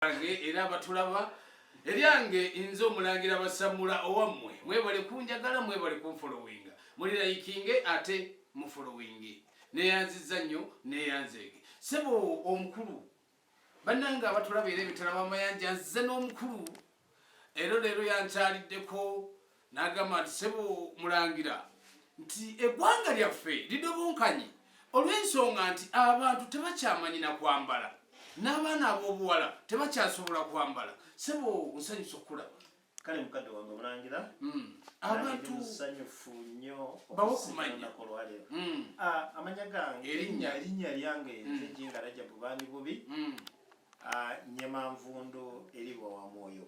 bange era abatulaba eryange nze omulangira basamula owammwe mwebale kunjagala mwebale kunfolowinga muli layikinge ate mufolowinge neyanziza nnyo neyanzeege sebo omukulu bannange abatulaba era ebitala bamayanja nzize n'omukulu ero leero yankyaliddeko N'agamba nti, Ssebo Mulangira, nti eggwanga lyaffe lidobonkanye olw'ensonga nti abantu tebakyamanyi na kwambala, n'abaana ab'obuwala tebakyasobola kwambala. Ssebo nsanyuse okukulaba. Kale mukadde wange Mulangira, hmm. abantu musanyufu nnyo okusigalana ku lwaleero. Hmm. Ah, amanya gange erinnya erinnya lyange hmm. nze Jinga Rajabu Baani Bubi, ah, Nyemanvundu eri Bwawamwoyo.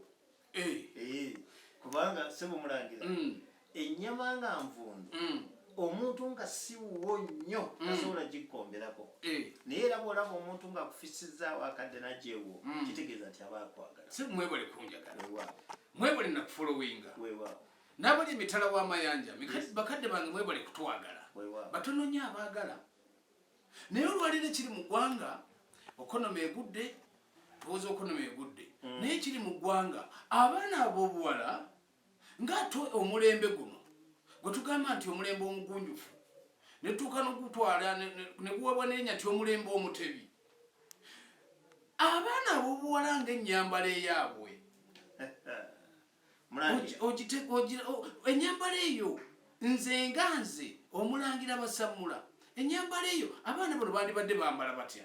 eh. Eh, kubanga sebo mulangira mm. ennyama nga nvundu mm. omuntu nga siwuwo nnyo mm. tasobola gikkomberako eh. naye era bwolaba omuntu nga akufisizaawo akadde nagyewo kitegeeza nti aba akwagala si mwebale kunjagala mwebale nakufolowinga nabali emitala w'amayanja bakadde bange mwebale kutwagala batononya abaagala naye olwaliro ekiri mu ggwanga okonoma egudde tuwoza okonoma egudde mm. naye ekiri mu ggwanga abaana ab'obuwala ngaate omulembe guno gwe tugamba nti omulembe omugunjufu netuuka nogutwala neguwebwa nenya ti omulembe omutebi abaana ab'obuwala nga ennyambala eyaabwe enyambala eyo nze nga nze omulangira basammula enyambala eyo abaana bano bandibadde bambala batya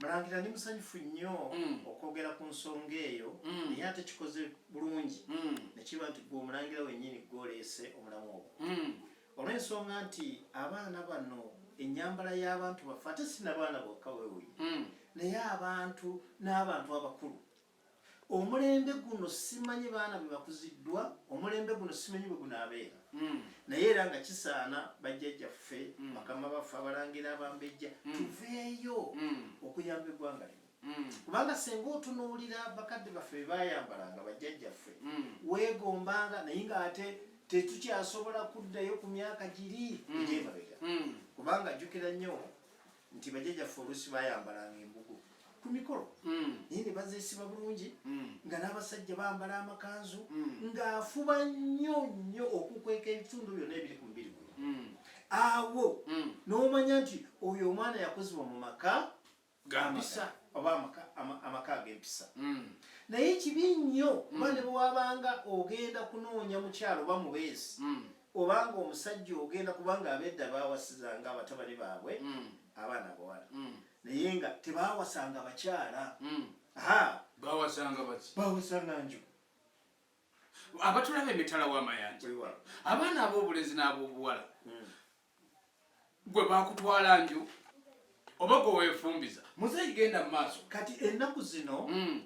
mulangira ndi musanyufu nnyo mm. okwogera ku nsonga eyo mm. naye ate kikoze bulungi mm. nekiba nti gwe omulangira wenyini gwoleese omulamu ogwo olw'ensonga nti abaana bano enyambala y'abantu baffe ate sinabaana bokka wewuyi naye abantu n'abantu abakulu omulembe guno simanyi baana bwe bakuziddwa omulembe guno simanyi bwe gunaabeera hmm. naye era nga kisaana bajjajjaffe hmm. bakama baffe abalangira abambejja hmm. tuveeyo okuyamba eggwanga lino kubanga senga otunuulira bakadde baffe bebayambalanga bajjajjaffe weegombanga naye ngaate tetukyasobola kuddayo ku myaka giri egyemabega kubanga jjukira nnyo nti bajjajaffe oluusi bayambalanga embugo ku mikolo hmm. naye ne bazeesiba bulungi hmm. nga n'abasajja bambala amakanzu hmm. ng'afuba nnyo nnyo okukweka ebitundu byonna ebiri ku mubiri guno awo n'omanya nti oyo omwana yakozebwa mu maka gampisa oba amaka ag'empisa naye kibi nnyo kuba ne bwewabanga ogenda kunoonya mukyalo oba mubeezi obanga omusajja ogenda kubanga abedda bawasizanga abatabani baabwe mm. abaana abawala mm. naye nga tebawasanga bakyala mm. bawasanga baki bawasanga nju abatulaba emitala w'amayanja abaana ab'obulenzi n'ab'obuwala gwe bakutwala nju oba gwe wefumbiza muzeeyi genda mu maaso kati ennaku zino mm.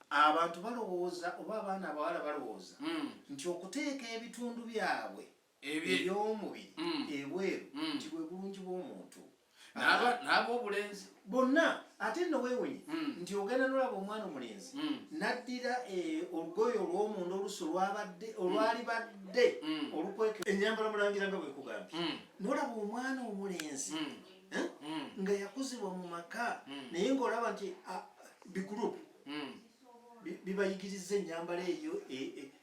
abantu balowooza oba abaana abawala balowooza mm. nti okuteeka ebitundu byabwe ebyomubiri mm. ebweru nti bwe bulungi bw'omuntu n'ab'obulenzi bonna ate nno weewunye hmm. nti ogenda nolaba omwana omulenzi hmm. naddira eh, olugoye olwomunda olusi olwabadde hmm. olwali badde olukweke enyambala mulangira nga bwekugambye nolaba omwana omulenzi eh, nga yakuzibwa mu maka naye ngaolaba nti ah, bigurupu bibayigiriza enyambala eyo e, e,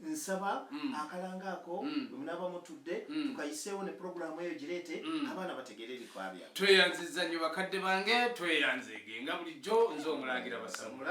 Nsaba mm. akalanga ako mm. bwemunaba mutudde mm. tukayiseewo ne pulogulaamu eyo gireete mm. abaana bategeere ebikwabya. Tweyanziza nnyo bakadde bange, tweyanzeege nga bulijjo nze omulangira basamula.